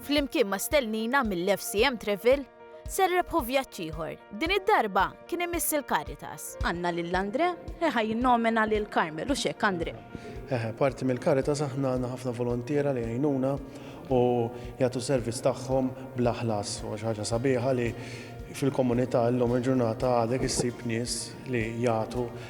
Flimkien ma' stellnina mill-FCM Travel, se rrebħu vjaġġ ieħor. Din id-darba kien imiss il-Caritas. Għandna lil Andre li ħa jinnomina lil Carmel, hux hekk Andre? Eħe, parti mill-Caritas aħna għandna ħafna volontiera li jgħinuna u jagħtu servizz tagħhom bla ħlas. U xi ħaġa sabiħa li fil-komunità llum il-ġurnata għadek issib nies li jagħtu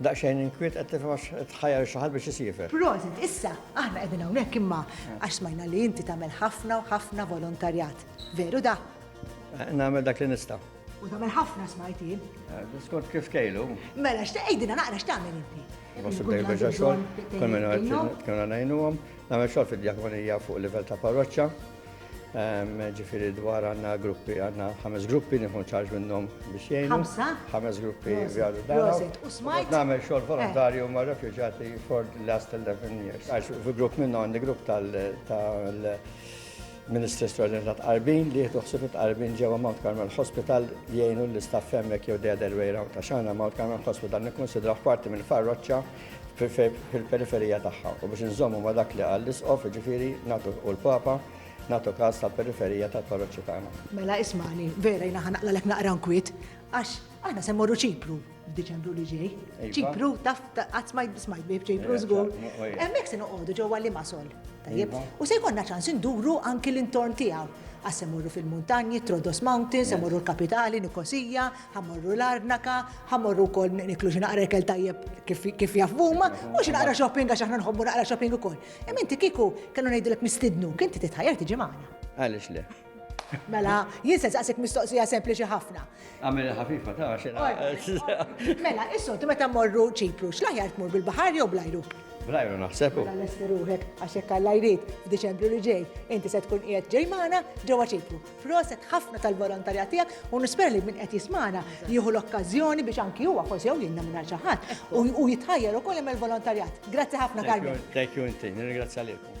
Daqsxejn inkwiet qed tifhem għax qed tħajjar lil xi ħadd biex isiefer. Prosit, issa aħna qegħdin hawnhekk imma għax smajna li inti tagħmel ħafna u ħafna volontarjat. Veru da? Nagħmel dak li nista'. U tagħmel ħafna smajt jien. Skont kif kejlu. Mela x'tgħidilna naqra x'tagħmel inti? Wassu dejjem biex xogħol, kull minn għajnuna ngħinuhom, nagħmel xogħol fid-djakonija fuq livell ta' parroċċa. ġifiri dwar għanna gruppi, għanna ħames gruppi nifun ċarġ minnom biex jgħinu. Ħamsa? ħames gruppi għadu dan. U smajt? Namel xol eh. volontarju ma' refugjati for the last 11 years. Għax fi grupp minnom għandi grupp tal Ministri Straordinari ta' Tqarbin li jieħdu ħsieb Tqarbin ġewwa Mount Carmel Hospital jgħinu l-istaff hemmhekk jew the other way round. Għax aħna Mount Carmel Hospital nikkunsidraw parti mill-farroċċa fil-periferija tagħha u biex inżommu ma' dak li qal l-Isqof, jiġifieri nagħtu u l-Papa, nagħtu kas tal-periferija tal-parroċċi tagħna. Mela ismagħni, vera jiena ħa naqlalek naqra nkwiet, għax aħna se mmorru Ċipru f'Diċembru li ġej. Ċipru, taf qatt smajt smajt bih Ċipru żgur. Hemmhekk se noqogħdu ġewwa Limasol. Tajjeb. U se jkollna ċans induru anki l-intorn tiegħu. Għas se morru fil-muntanji, Trodos Mountains, se morru l-kapitali, Nikosija, Ħa morru l-Arnaka, ħa morru wkoll niklu xi naqra ikel tajjeb kif jaf huma, u xi naqra shopping għax aħna nħobbu naqra shopping ukoll. Imma inti kieku kellu ngħidilek nistidnu, kien ti titħajjar tiġi magħna. Għaliex le? Mela, jien se saqsik mistoqsija sempliċi ħafna. Għamel ħafifa ta' xi Mela, issu, ti meta morru ċipru, x'laħjar tmur bil-baħar jew blajru? Blajru naħsebu. Mela nestiruħek għax jekk għallajrit f'Diċembru li ġej, inti se tkun qiegħed ġej magħna ġewwa ċipru. Proset ħafna tal-volontarja tiegħek u nispera li min qed jismana jieħu l-okkażjoni biex anki huwa forsi jew jinna minn xi ħadd u jitħajjar ukoll jagħmel volontarjat. Grazzi ħafna Carmen. Thank you inti, nirringrazzja lilkom.